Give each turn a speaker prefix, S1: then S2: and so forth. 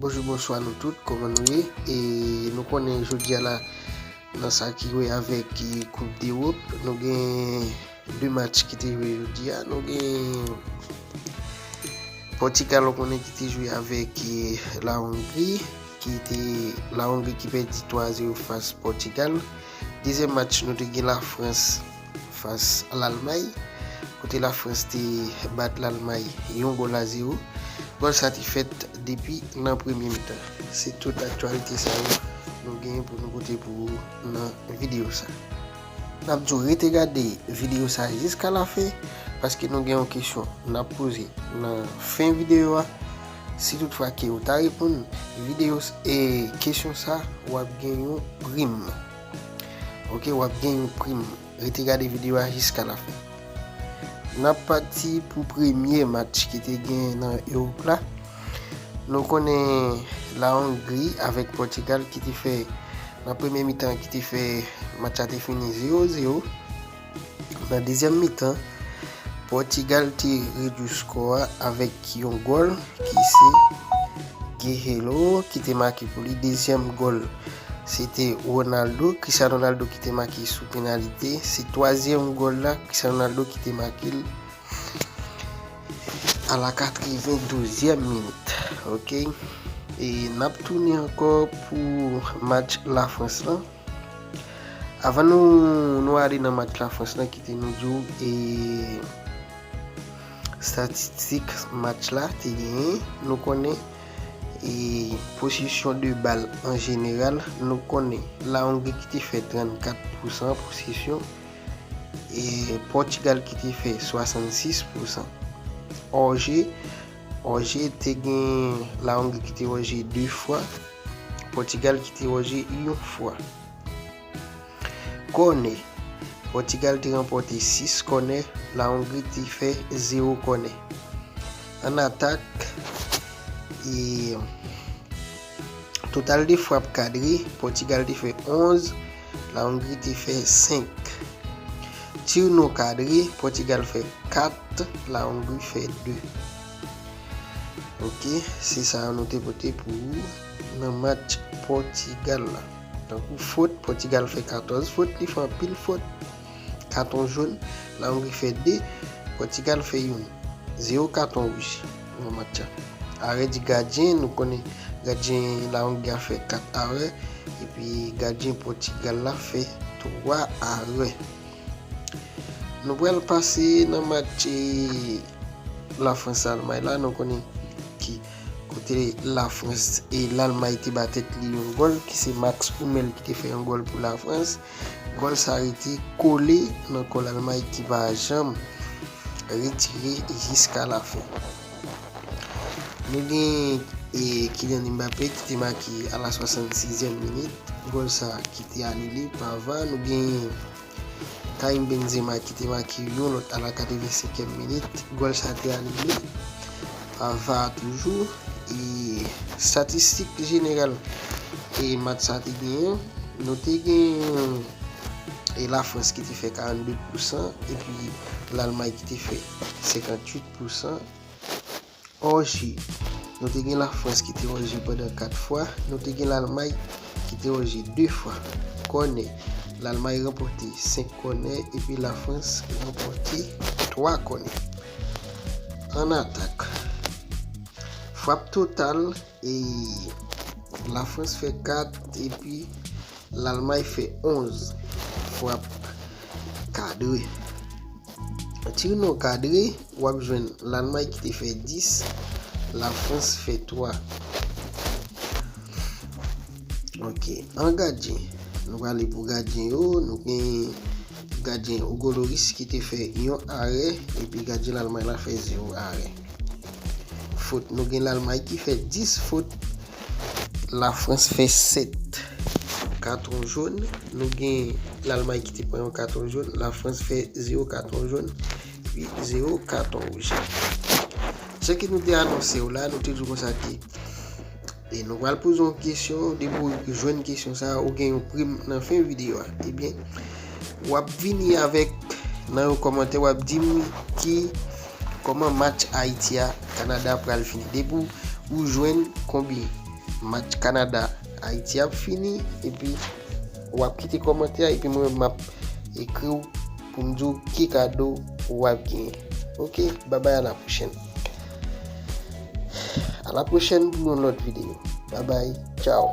S1: Bonjou bonswa nou tout kòman nou ye e nou konnen jodi a la nan sa ki wè avèk koup dewòp nou gen 2 match ki te jwe jodi a nou gen pòtikal ou konnen ki te jwe avèk la ongri ki te la ongri ki pèdi 3 a 0 fas pòtikal dezyèm match nou te gen la frans Fas Lalmay, kote Lafrans te bat Lalmay yon gòl a zewo. Gòl sa te fèt depi nan premye mitan. Se tout aktyalite sa yo nou genyen pou nou pote pou ou nan videyo sa. N ap di w rete gade videyo sa jiska lafen, paske nou gen yon kesyon n ap poze nan fen videyo a. Si tout fwa ke ou ta reponn videyo, kesyon sa, w ap gen yon prim. Ok wap gen yon prim. Rete gade video a jiska la fen. Nap pati pou premye match ki te gen nan Europe la. Nou konnen la Hongri avek Portugal ki te fe nan premye mitan ki te fe match la te fini 0-0. Nan dezyèm mitan, Pòtigal te redui skò a avèk yon gòl ki se Guerreiro ki te make pou li. Dezyèm gòl se te Ronaldo, Cristiano Ronaldo ki te make sou penalite. Se twazyèm gòl la Cristiano Ronaldo ki te make l a la katrevendozyèm minit. Ok, e n ap tounen ankò pou match Lafrans lan. Avan nou nou ale nan match Lafrans la kite nou di w e statistik match la te genyen nou konnen e posesyon de bal an jeneral nou konnen La Hongrie ki te fè 34 pousan posesyon e Portugal ki te fè 66 pousan Orje Òje te gen La Ongri ki te òje 2 fwa, Pòtigal ki te òje yon fwa. Kònè, Pòtigal te ranpòte 6 kònè, La Ongri te fè 0 kònè. An atak, e. Total de frap kadre, Pòtigal te fè 11, La Ongri te fè 5. Tir non kadre, Pòtigal fè 4, La Ongri fè 2. Ok, se sa yo nou te pote pou ou nan match Pòtigal la. Tankou fot, Pòtigal fè 14 fot, li fè anpil fot. Katon jòn, La Ongri fè 2, Pòtigal fè youn. 0 katon wouj nan match la. Arè di gadyen, nou konnen gadyen La Ongri a fè 4 arè epi gadyen Pòtigal la fè 3 arè. Nou pral pase nan match La Frans Almay la, nou konnen ki kote La Frans e Lalmay te ba tèt li yon gòl ki se Max Oumel ki te fè yon gòl pou La Frans. Kòl sa rete kole nan kòl almay ki pa janm retire jiska lafen. Nou gen Kylian Mbappé ki te make a la 66 zièm minit, gòl sa ki te anile pa var. Nou gen Karim Benzema ki te make yon lòt a la 85 èm minit, gòl sa te anile. Ava toujou e statistik jeneral e mat sa te genyen nou te genyen e la frans ki te fè 42 pousan epi lalmay ki te fè 58 pousan òje nou te gen la frans ki te òje pandan 4 fwa nou te gen lalmay ki te òje 2 fwa kòne lalmay ranpòte 5 kòne epi la frans ranpòte 3 kòne. An atak. Frap total e la Frans fè 4 epi Lalmay fè 11. Frap kadre. Tir non kadre, w ap jwenn Lalmay ki te fè 10, la Frans fè 3. Ok, an gadyen. Nou prale pou gadyen yo, nou gen. Gadyen Hugo Lloris ki te fè yon arè epi gadyen Lalmay la fè 0 arè. Fot nou gen Lalmay ki fè 10 fot. Lafrans fè 7 katon jòn. Nou gen Lalmay ki te pran yon katon jòn. Lafrans fè 0 katon jòn epi 0 katon wouj. Jan ke nou te anonse w la, nou te di w konsa ke. E nou pral poze yon kesyon, depi w jwenn kesyon sa a, ou gen yon prim nan fen videyo a. Ebyen, w ap vini avèk nan yon kòmantè, w ap di m ki kòman match Ayiti a Kanada pral fini. Depi ou jwenn konbyen match Kanada Ayiti ap fini, epi w ap kite kòmantè a, epi mwen m ap ekri w. Pou m di w ki kado w ap genyen. Ok babay a la pwochèn. A la pwochèn pou yon lòt videyo. Babay tchaw.